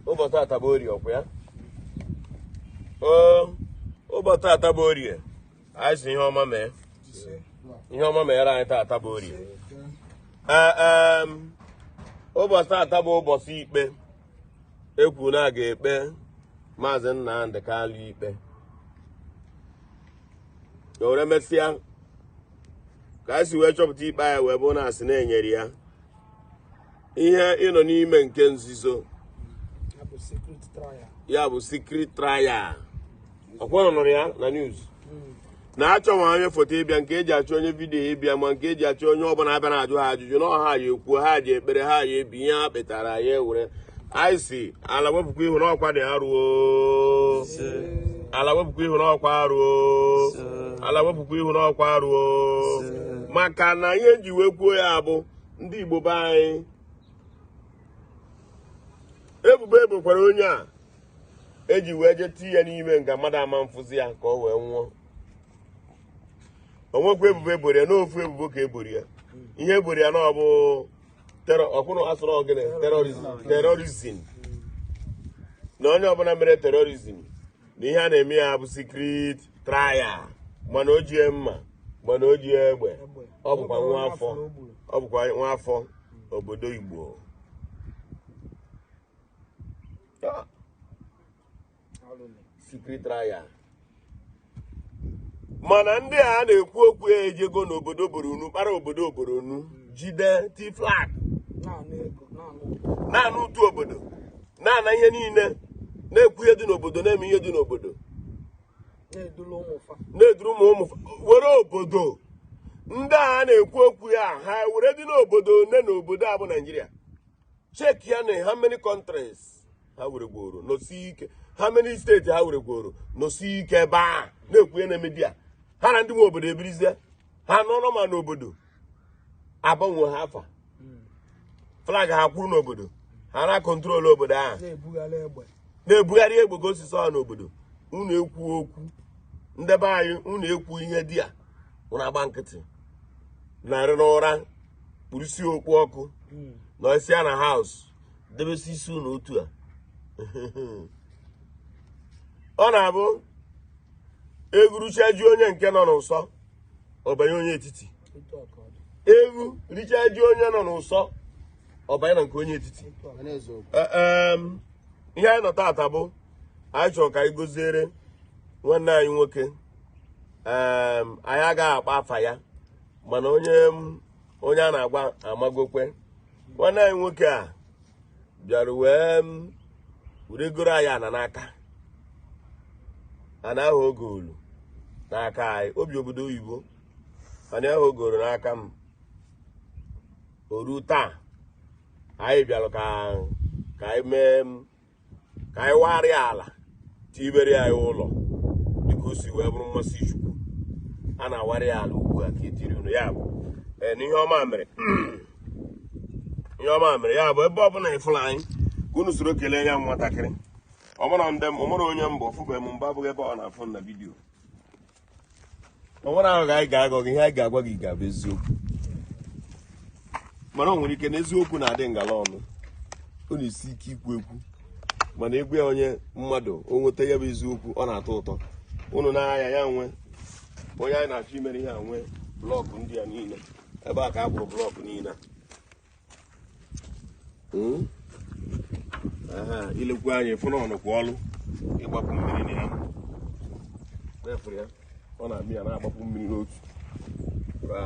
ụbọchị taata bụ orie ọkwa ya ụbọchị taata bụ orie anyị sị ihe ọma mee ihe ọma mere anyị taata bụ orie ụbọchị taata bụ ụbọchị ikpe ekwu na a ga-ekpe maazị Nnamdị Kalụ ikpe o were mesịa ka anyị si wee chọpụta ikpe a ya wee bụ na a sị na e nyere ya ihe ịnọ n'ime nke nzuzo ya bụ secret trial ọkwa unu nụrụ ya na news hmm. na achọghị onye foto ịbịa nke eji achọ onye vidiyo ịbịa ma nke eji achọ onye ọbụla abịa na-ajụ ha ajụjụ na ha ya-ekwuo ha ji ekpere ha ya-ebi ihe ha kpetara ya ewere anyị sị ala wepụkwa ihu n'ọkwa dị arụ o ala wepụkwa ihu n'ọkwa arụ o ala wepụkwa ihu n'ọkwa arụ o maka na ihe m ji wee kwuo ya bụ ndị Igbo be anyị ebubo ebokwara onye a eji wee jee tii ya n'ime nga mmadụ ama mfụzi ya ka o wee nwụọ o nwekwa ebubo eboro ya na ofu ebubo ka eboro ya ihe eboro ya na ọ bụ terrorism na onye ọbụla mere terrorism na ihe a na-eme ya bụ secret trial mana o jie mma mana o jie egbe ọ bụkwa nwa afọ ọ bụkwa nwa afọ obodo Igbo secret trial mana ndị a na-ekwu okwu ha ejego n'obodo Borno kpara obodo Borno jide tie flag na-ana ụtụ obodo na-ana ihe niile na-ekwu ihe dị n'obodo na-eme ihe dị n'obodo na-eduru ụmụ ụmụ were obodo ndị a na-ekwu okwu ha ha weredị obodo one n'obodo a bụ naijiria check ya na how many countries ha weregworo nọsie ike how many state ha weregworo nọsie ike ebe a na-ekwu ya na media ha na ndị nwe obodo ebirizie ha nọrọ ma n'obodo agbanwe ha afa flag ha kwụrụ n'obodo ha na-control obodo ahụ na-ebugharị egbe na-ebugharị egbe ka o si sọ ha n'obodo unu ekwu okwu ndị be anyị unu ekwu ihe dị ya unu agba nkịtị na-arahụ ụra kpurusi okpu ọkụ hmm. n'isi ya na haus debesi isi unu otu a ọ na-abụ e gwuricha ji onye nke nọ n'ụsọ ọ banye onye etiti e gwuricha ji onye nọ n'ụsọ ọ banye na nke onye etiti e, ihe anyị nọ taata bụ anyị chọrọ ka anyị goziere nwanne anyị nwoke anyị agaghị akpa afa ya mana onye onye a na-agwa amagokwe nwanne anyị nwoke a bịara wee were goro anyị ana n'aka ana ahụ o goolu n'aka anyị o bi obodo oyibo ana ahụ o goolu n'aka m o ruo taa anyị bịara ka ka anyị mee ka anyị warị ya ala tibere anyị ụlọ dịka o si wee bụrụ mmasị chukwu a na-awarị ya ala ugbu a ka etiri unu ya bụ ee na ihe ọma mere ihe ọma mere ya bụ ebe ọbụla ị fụlụ anyị ka unu soro kelee ya nwatakịrị ọ marọ ndị m ọ marọ onye m bụ ọ fụbeghị m mbụ abụghị ebe ọ na-afụ m na vidiyo o nwerọ aghụghọ anyị ga-aghọ gị ihe anyị ga-agwa gị ga-abụ eziokwu mana o nwere ike na eziokwu na-adị ngala ọnụ ọ na-esi ike ikwu ekwu mana ị gwa ya onye mmadụ o nweta ya bụ eziokwu ọ na-atọ ụtọ unu na-aya ya nwe onye anyị na-achọ imere ihe a nwe blọkụ ndị a niile ebe a ka a kpụrụ blọkụ niile a hmm? i lekwuo anya ị fụ na ọ nọkwa ọlụ ịgbapu mmiri na ya na-efụrụ ya ọ na-eme ya na-agbapu mmiri n'otu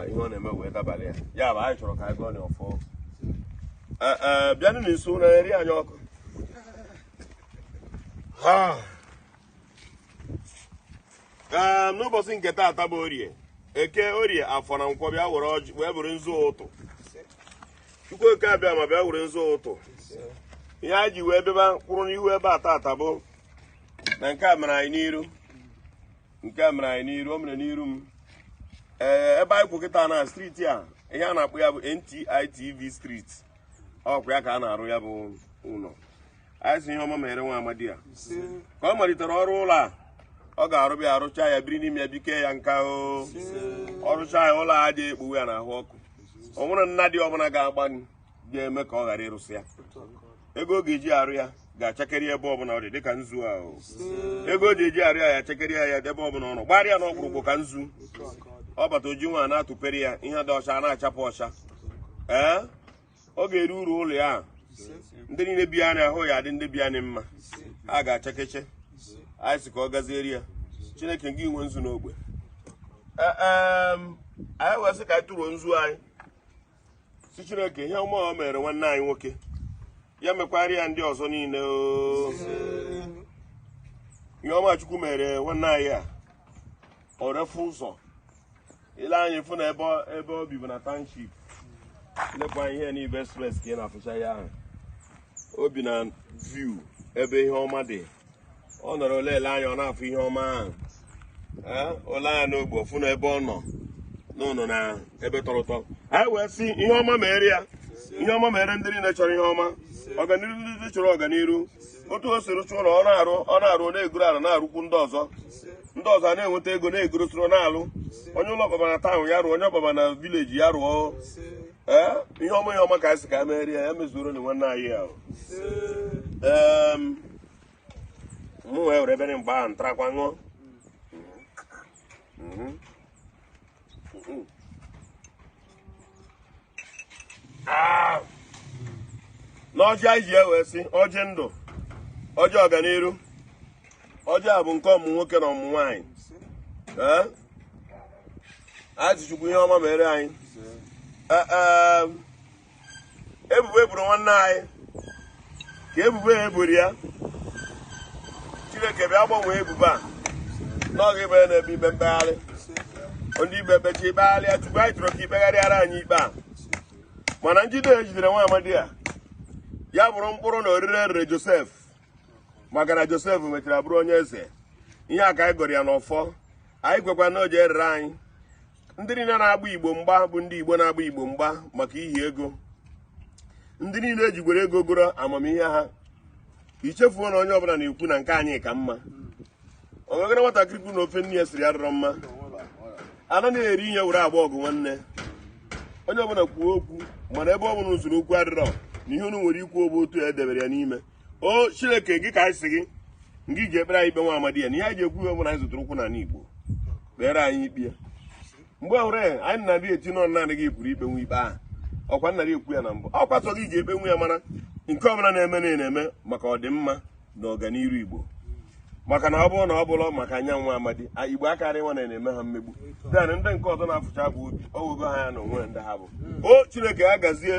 ihe ọ na-eme wee dabalị ya ya bụ anyị chọrọ ka anyị gọọ ọfọ bịanụ na nso na nri anyị ọkụ ee n'ụbọchị nke taata bụ orie eke orie afọ na nkwọ bịa were ọjị wee buru nzu ụtụ chukwu oke abịama bịa were nzu ụtụ ihe anyị ji wee bịaba kwụrụ n'ihu ebe a taata bụ na nke a mere anyị n'iru nke a mere anyị n'iru o mere n'iru m ee ebe anyị kwụ kịta na striti a ihe a na-akpọ ya bụ NTI TV street ọkwa ya ka a na-arụ ya bụ ụlọ anyị sị ihe ọma mere nwa amadi a ka ọ malitere ọrụ ụlọ a ọ ga-arụba ya arụcha ya biri n'ime ya bikaa ya nka o ọ rụcha ya ụlọ adị ekpowe ya n'ahụ ọkụ o nwerọ nnadi ọbụla ga-agba ga-eme ka ọ ghara ịrụsị ya ego ọ ga-eji arụ ya ga-achakeri ebe ọbụla ọ dị dịka nzu a o ego ọ ga-eji arụ ya ya achakeri ya ya ebe ọbụla ọ nọ gbarịa n'okpurukpu ka nzu ọ bata oji nwa na-atụpere ya ihe dị ọcha na-achapụ ọcha ee ọ ga-eri uru ụlọ ya ahụ ndị niile bi na ya ahụ ya adị ndị bi na ya mma ha ga-achakecha anyị sị ka ọ gaziere ya chineke gị nwe nzu n'ogbe E, em, anyị wee sị ka anyị tụrụ nzu anyị sị chineke ihe ọma o mere nwanne anyị nwoke ya mekwara ya ndị ọzọ niile oo. ihe ọma chukwu mere nwanne anyị a ọ dị efu ụzọ ile anya ị fụ na ebe ọ- ebe o bibu na township lekwa ihe n'ibe express ka ị na-afụcha ya ahụ o bi na view ebe ihe ọma dị ọ nọrọ na-ele anya ọ na-afụ ihe ọma ahụ Ee, o lee anya n'ogbe ọ fụ na ebe ọ nọ na ọ nọ na ebe tọrọ ụtọ anyị wee sị ihe ọma mere ya ihe ọma mere ndị niile chọrọ ihe ọma ọganiru ndị chọrọ ọganiru otu o siri chụọ na ọ na-arụ ọ na-arụ ọ na-egoro ala na-arụkwu ndị ọzọ ndị ọzọ a na-enweta ego na-egoro soro na-arụ onye ụlọ ọ kpaba na town ya rụọ onye ọ kpaba na village ya rụọ ee ihe ọma ihe ọma ka anyị sị ka meere ya ya mezuoro na nwanne anyị ahụ ee mụ wee were ebe mgbe ahụ ntarakwa ṅụọ Mhm. Mhm. n'ọjị anyị ji ewe sị ọjị ndụ ọjị ọganiru ọjị a bụ nke ọmụmụ nwoke na ọmụmụ nwaanyị ee anyị sị chukwu ihe ọma mere anyị ebubo eburu nwanne anyị ka ebubo ya eburu ya chineke bịa gbanwee ebubo a na ọ ga-ebi ya n'ebe ikpe mkpegharị ndị ikpe kpechaa i kpegharịa chukwu anyị chọrọ ka i kpegharịara anyị ikpe a mana njide ejidere nwa amadi a ya bụrụ mkpụrụ na orire erere josef maka na josef mechara bụrụ onye eze ihe a ka anyị gọrọ ya n'ọfọ anyị kwekwa na o ji erere anyị ndị niile na-agba igbo mgba bụ ndị igbo na-agba igbo mgba maka ihi ego ndị niile ejigwere ego goro amamihe ha ichefuo na onye ọbụla na-ekwu na nke anyị ka mma o nwegara nwatakịrị kwuru na ofe nne ya siri adịrọ mma ana na-eri ihe were agba ọgụ nwanne onye ọbụla kwuo okwu mana ebe ọ bụ na usoro okwu adịrọ na ihe unu nwere ikwu ọ bụ otu ya edebere ya n'ime o chineke ngị ka anyị sị gị ngị ji ekpere anyị ikpe nwa amadi a na ihe anyị ji ekwu ihe a bụ na anyị zọdoro ụkwụ n'ala igbo kpere anyị ikpe a mgbe ọhụrụ ya anyị na-adị eti n'ọnụ naanị gị pụrụ ikpenwu ikpe ahụ ọkwa m na-adị ekwu ya na mbụ ọkwa sọ gị ji ekpenwu ya mara nke ọbụla na-eme na na-eme maka ọdịmma na ọganiru igbo maka na ọ bụrụ na ọ bụrọ maka nya nwa amadi igbo akarọ ịma na a na-eme ha mmegbu then ndị nke ọzọ na-afụcha bụ obi o wego ha anya na onwe ndị ha bụ hmm. o chineke ya gazie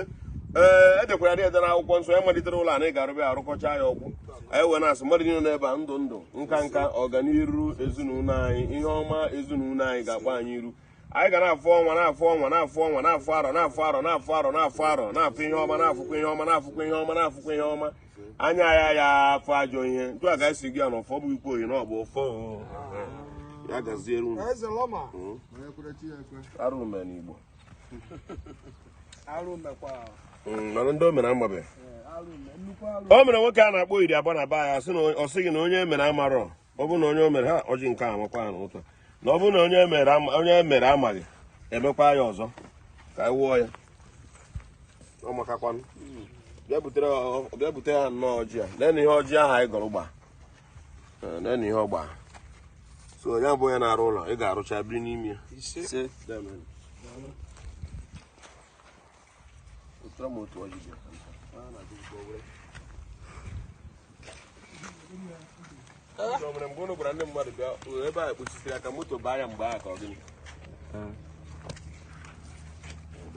ee edekwara ya ede n'akwụkwọ nsọ ya malitere ụlọ anyị ga-arụba ya arụkọcha ya ọ gwụ anyị wee na-asị mmadụ niile n'ebe a ndụ ndụ nka nka ọganiru ezinụlọ anyị ihe ọma ezinụlọ anyị ga-akpọ anyị iru anyị ga na-afụ ọnwa na-afụ ọnwa na-afụ ọnwa na-afụ arọ na-afụ arọ na-afụ arọ na-afụ arọ na-afụ ihe ọma na-afụkwa ihe ọma na-afụkwa ihe ọma na-afụkwa ihe ọma anya anyị aya afụ ajọ ihe etu a ka anyị si gọ ya n'ọfọ bụ ikwu oyi na ọ bụ ọfọ ya gaziere unu Eze Lọma. Mm. Onye kwere chi ya ekwe. arụ emee n'igbo Arụ mekwa. Mm, mana ndị o mere amabeghị Arụ me nnukwu arụ. o mere nwoke a na-akpọ iri abụọ na be anyị asị na ọ sị gị na onye o mere amarọ ọ bụrụ na onye o mere ha ọjị nke a amakwa ha n'ụtọ na ọ bụrụ na onye mere ama- onye mere amaghị emekwa ya ọzọ ka anyị wụọ ya ọ makakwanụ bịa butere ọ- bịa bute ha nnọọ ọjị a leenụ ihe ọjị ahụ anyị gọrọ gba Ee, leenụ ihe ọ gba so onye bụ onye na-arụ ụlọ ị ga-arụcha biri n'ime ya ise Daalụ. Ọ bụrụ mgbe ụnụ gwara ndị mmadụ bịa ebe a kpuchisiri aka moto baa ya mgbe ahụ ka ọ gịnị